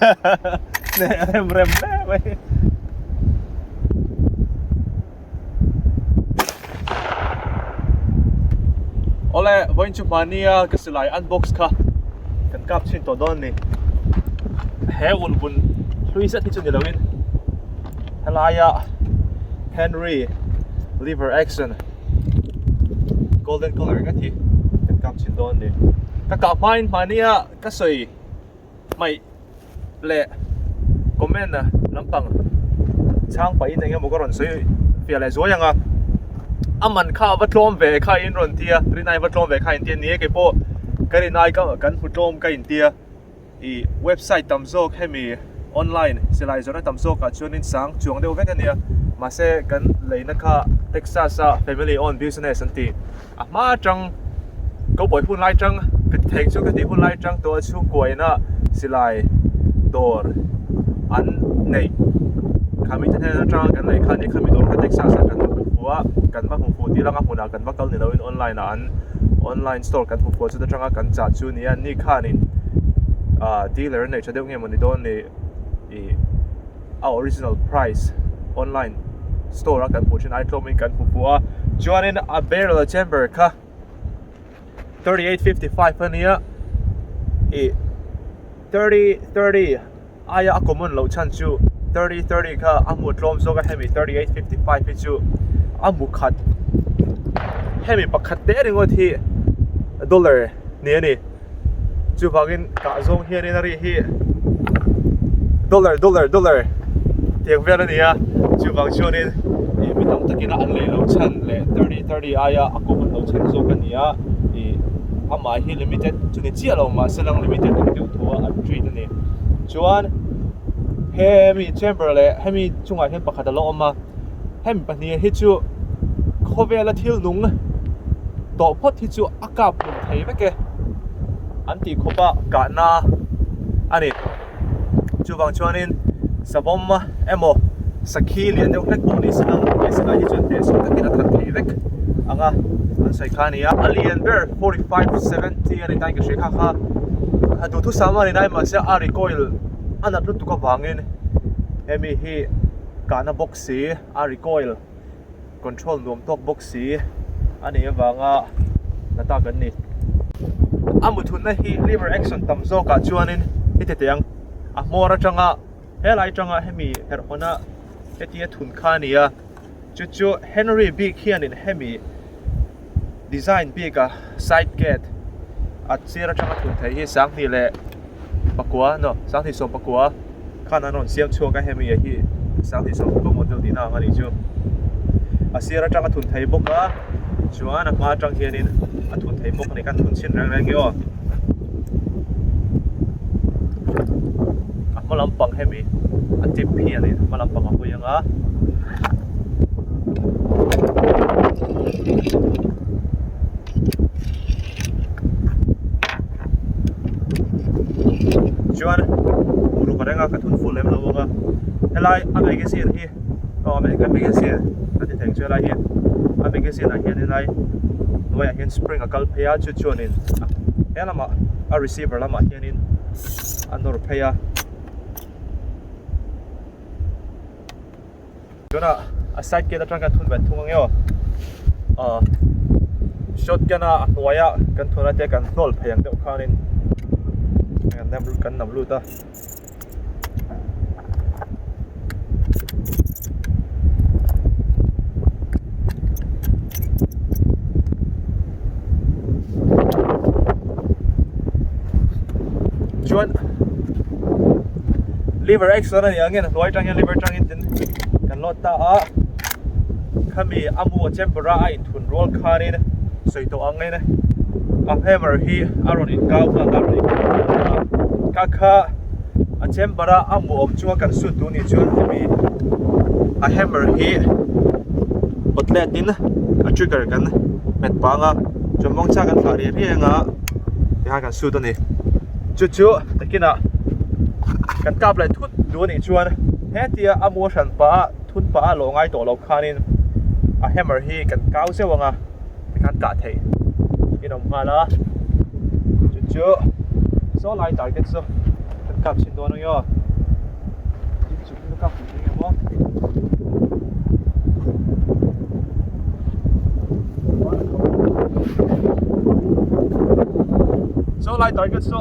rem rem hle mai ole voin chu mania ka silai unbox kha kan kap chin to don ni he un bun hlui zet chu ni loin helaya henry liver action golden color ngawt hi kan kap chin dawn ni ka kah hmain hmania ka sawi mai le comment a lampang chang pai in engemaw ka rawn sawi fiah leh zuai ang a a man kha va tlawm ve kha in rawn tia rinai va tlawm ve kha in tia ni e kei pawh ka rinai ka kan hmu tlawm ka in tia i website tam zawk hemi online silai zawrhna tam zawkah chuanin sang chuang deuh vek a nia mahse kan leina kha texas a family owned business an ti a hma atang cowboy hun lai atang ka ti thei chu ka tih hun lai atang tawh a chhungkua ina silai dawr an neih kha mite hian atanga kan lei khan i khami dawr kha texas ah kan va hmu fu a kan va hmu fu tiranga hmunah kan va kal ni lohin online ah an online store kan hmu fuh chu atanga kan chah chu-- nia an nih khan in ah dealer an nei tha deuh nge mawni dawn ni ih a original price online store a kan hmuh thin ai tlawm in kan hmu fu a chuanin a barrel a chamber kha thirty eight fifty five a nia ih thirty thirty Aia a common loh chhan chu thirty thirty kha a hmuh tlawm zawk a hemi thirty eight fifty five hi chu a hmu khat hemi pakhat te ringawt hi dollar ni a ni chuvangin tah zawng hian in a ri hi dollar dollar dollar tiang vel a ni a chuvang chuan in ih mi tam takin an lei loh chhan leh thirty thirty aia a common loh chhan zawk a ni a ih amah hi limited chu ni chiah lo mahse limited ang deuh thu a an treat a ni. chuan hemi chamber leh hemi chungah hian pakhat a lo awm a hemi pahnih hi chu khawvela thil nung tawh phawt hi chu a kap hmun thei vek e an tih khawpa kahna a ni chuvang chuanin savawma-- emaw sakhi lian deuh hlek pawh ni sangha hmeichhe lai hi chuan teh sung takin a that leh vek ang a an sawi kha a ni a a lian ber forty five seventy a ni tain ka hria kha kha a duhthusam a ni daih mahse a recoil a nat lutuk avangin hemi hi kahna bawk si a recoil control nuam tawk bawk si a nih avanga la ta kan ni a mutthutna hi liver action tam zawkah chuanin i ti teh ang a hmawr atanga. Helai tanga hemi herhawna hetia thun kha a ni a, chu chu Henry bik hianin hemi design bika side gate a sir atanga thun theih hi Sanghnih leh pakua no Sanghnih sawm pakua khan an rawn siam chhuak a, hemi hi Sanghnih sawm pakua model tihna ang a nih chu. A sir atanga thun theih bawk a, chuan a hma atang hianin a thun theih bawk a ni, kan thun chhin reng reng hi aw. a hma lampang hemi a tip hi a nih hma lampang a hawi anga chuan uruparenga ka thun full em lo bawk a helai a magazine hi. Aw a American magazine ka ti theng chu helai hi a magazine ah hian helai hnuai ah hian spring a kal phei a chu chuan in he lamah a receiver lamah hian in a nawr phei a tuna a side gate atang kan thun kan thung ange aw a shotgun a hnuai a kan thun ate kan hnawl phei ang deuh khan in kan nam kan nam lut a chuan liver exer a nih ang hian a hnuai atang hian liver atangin kan load ta a. khami amu a chamber a a in thun rual khan in sawi tawh ang in a hammer hi a rawn in kau nghal a rawn in kau nghal bawk a ka kha a chamber a amu awm chunga kan suit duh nih chuan hemi a hammer hi kawtlet in a trigger kan hmet pang a chuan mawngchhak kan thlah riah riah anga ti khan kan suit a ni chu chu takin ah kan kap leh thut duh anih chuan hetia amu a hran pah a. Thun pa a lawh ngai tawh lo khanin a hammer hi kan kau zeuh ang a, tikhan kah theih in awm nghal a, chu chu saw lai target chu kan kap chhin dawn ang i aw. Saw lai target chu.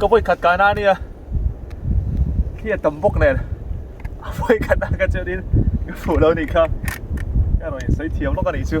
ka vawi khat ka na nia khi a tam bawk nen a vawi khat na ka chuanin ka fuh lo ni kha ka rawn insawi thiam lawk a nih chu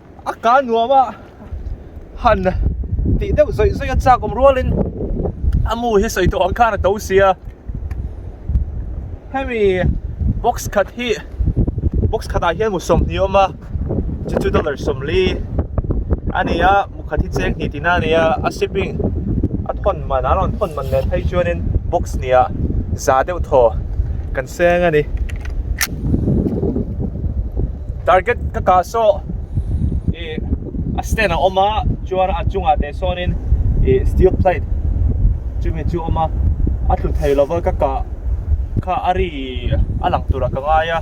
a ka nuam a han tih deuh zawih zawih a chak awm rual in a mu hi sawi tawh ang khan a to sia hemi box khat hi box khat ah hian mu sawmhnih a awm a chu chu dollar sawmli a ni a mu khat hi cheng hnih tina a ni a a shipping a thawn man an rawn thawn man leh phei chuan in box hnih ah za deuh thaw kan seng a ni. target ka kah sawh ih a stand a awm a chuan a chungah teh sawnin ih steel plate chumi chu a awm a a tlu thei lova ka kah kha a ri a lang tura ka ngai a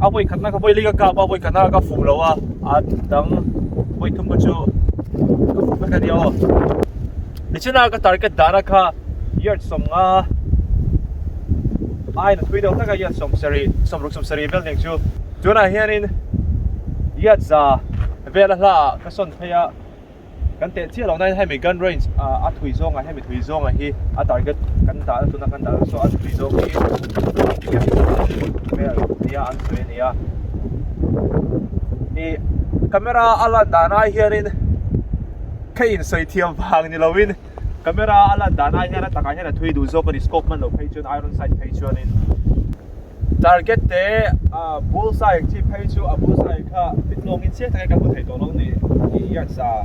a vawi khatna kha vawiin ka kap a vawi khatna ka fuh lo a a dang vawi thum pawh chu ka fuh vek a ni aw. Tichhunah ka target dahna kha yard sawm nga aina thui deuh taka yard sawm sarih sawm ruk sawm sarih vel ning chu tunah hianin yard za vela hla ka sawn phei a kan teh chiah lohna hemi gun range a thui zawngah hemi thui zawngah hi a target kan dahna tuna kan dahna chu a thui zawng hi vel nia an sawi ania ih camera a lan dan ai hianin Kha in sawi thiam vang ni loin camera a lan dan ai hian a takah hian a thui duh zawk a ni scope hman lo phei chuan iron sight phei chuan in target te bull sight chi phei chu a bull sight kha bit lawng in chiang taka kan hmu thei tawh lo ni tih hi an sa a.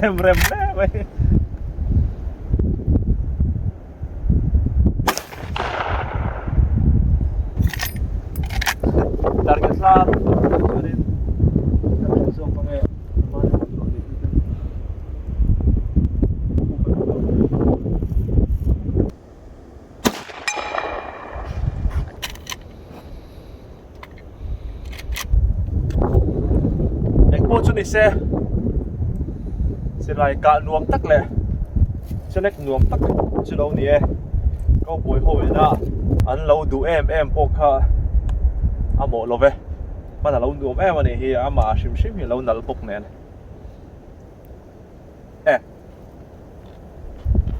rem rem hle mai target slam Engpawh chu nise silai kah nuam tak leh select nuam tak chu lo ni e kaubawi ho ina an lo duh em em pawh kha a mawh lo ve hman a lo nuam em anih hi amah hrim hrim hi a lo nal bawk nen. Eh.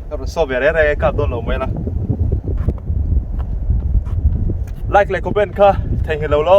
Ka ru so ve re re ka don lo mai la. Like le comment kha thei hi lo lo.